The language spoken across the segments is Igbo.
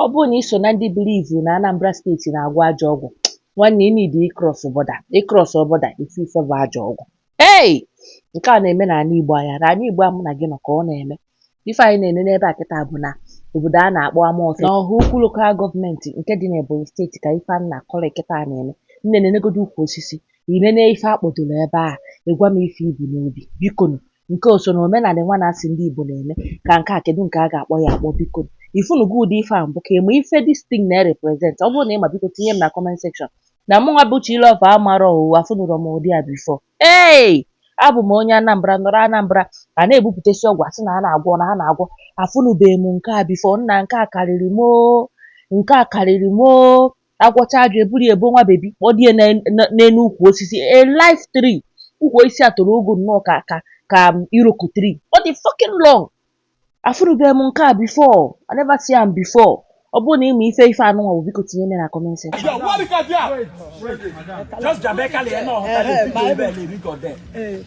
Ọ bụrụ na i so na ndị believe na Anambra steeti na-agwọ ajọ ọgwụ, nwanne ị need ịcross border. Ị cross border ị fụ ife bụ ajọ ọgwụ. Hey! Nke a na-eme n'ala Igbo anyị. N'ala Igbo a mụ na gị nọ ka ọ na-eme. Ife anyị na-ene n'ebe a kịta bụ na obodo a na-akpọ Amọfịa n'Ọhaukwu Local Government nke dị n'Ebonyi steeti ka ife a na-akọrọ kịta a na-eme. Nne nenegodu ukwu osisi, i nene ife akpọdoro ebe a, ị gwa m ife i bu n'obi. Bikonu, Nke a o so n'omenanị nwa a na-asị ndị Igbo na-eme? Ka nke a, kedụ nke a ga-akpọ ya akpọ biko nụ? Ị fụnugo ụdị ife a mbụ? Ka ị ma ife this thing na-represent? Ọ bụrụ na ị ma biko tinye m na comment section. Na mụnwa bụ Chi Love amarọ o, afụnụrọ m ụdị a before. Hey! Abụ m onye Anambra, nọrọ Anambra, a na-ebupụtesi ọgwụ a sị na a na-agwọ na a na-agwọ. Afụnụbeghị m nke a before, nna nke a karịrị m o, nke a karịrị m o. A gwọchaa ajọ, e buru ya ebo nwa bebi, kpọdo ya n'elu ukwu osisi, a live tree. Ukwu osisi a toro ogo nnọọ ka ka ka Iroko tree. Ọ dị fucking long. Afụrụbeghị m nke a before. I never see am before. Ọ bụrụ na ị ma ife ife anụnwa bụ, biko tinye m ya na comment section. Your work is there. Just Jamaica, they are not. They are not. They are not.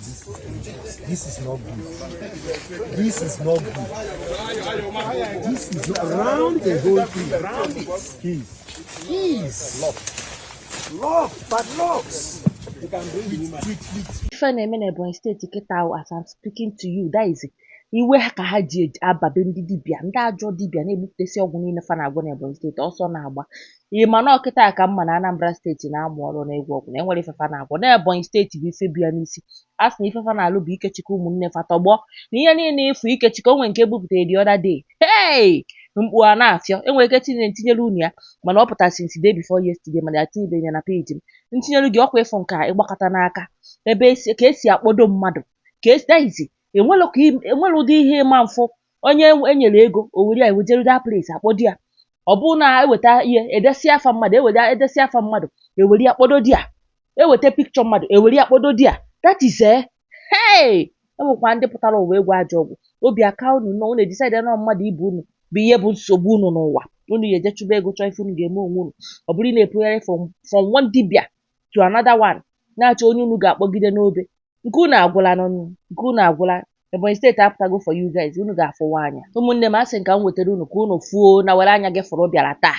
This is not good. This is not good. This is not round the whole tree. Round it. Keys. Keys. Lock. Lock. Padlocks. ife na-eme na Ebonyi steeti kịta ahụ as I'm speaking to you that is iwe ha ka ha ji aba be ndị dibịa ndị ajọ dibịa na-egbupụtasị ọgwụ niile fa na-agwọ na Ebonyi steeti ọsọ na-agba Ị ma na ọ kịta a ka m ma na Anambra steeti na-amụ ọrụ n'ịgwọ ọgwụ na e nwere ife fa na-agwọ na Ebonyi steeti bụ ife bịa n'isi a sị na ife fa na-alụ bụ ikechikọ ụmụnne fa tọgbọ na ihe niile ị fụ ikechikọ o nwe nke e bupụtara the other day hey mkpu a na-afịọ enwere ike tinyere ntinyere unu ya mana ọ pụtara since day before yesterday mana ya tinyebeghị ya na page m ntinyere gị ọ kwa ị fụ nke a ịgbakọta n'aka ebe esi ka esi akpọdo mmadụ ka esi that is enwere ka enwere ụdị ihe ịma mfụ onye e nyere ego o were ya wejere that place a kpọdo ya ọ bụrụ na eweta ihe edesi afa mmadụ ewere edesi afa mmadụ ewere ya kpọdo there eweta picture mmadụ ewere ya kpọdo there that is eh hey enwekwa ndị pụtara ụwa ịgwọ ajọ ọgwụ obi aka unu nọ unu edecide na mmadụ ibe unu bụ ihe bụ nsogbu unu n'ụwa unu ya eje chụba ego chọọ ife unu ga-eme onwe unu ọ bụrụ ị na-epụgharị from from one dibia to another one na-achọ onye unu ga-akpọgide n'obe Nke unu agwụla nụ nụ, nke unu agwụla. Ebonyi steeti apụtago for you guys, unu ga-afụwa anya. Ụmụnne m, asị m ka m wetara unu ka unu fụo na were anya gị fụrụ bịara taa.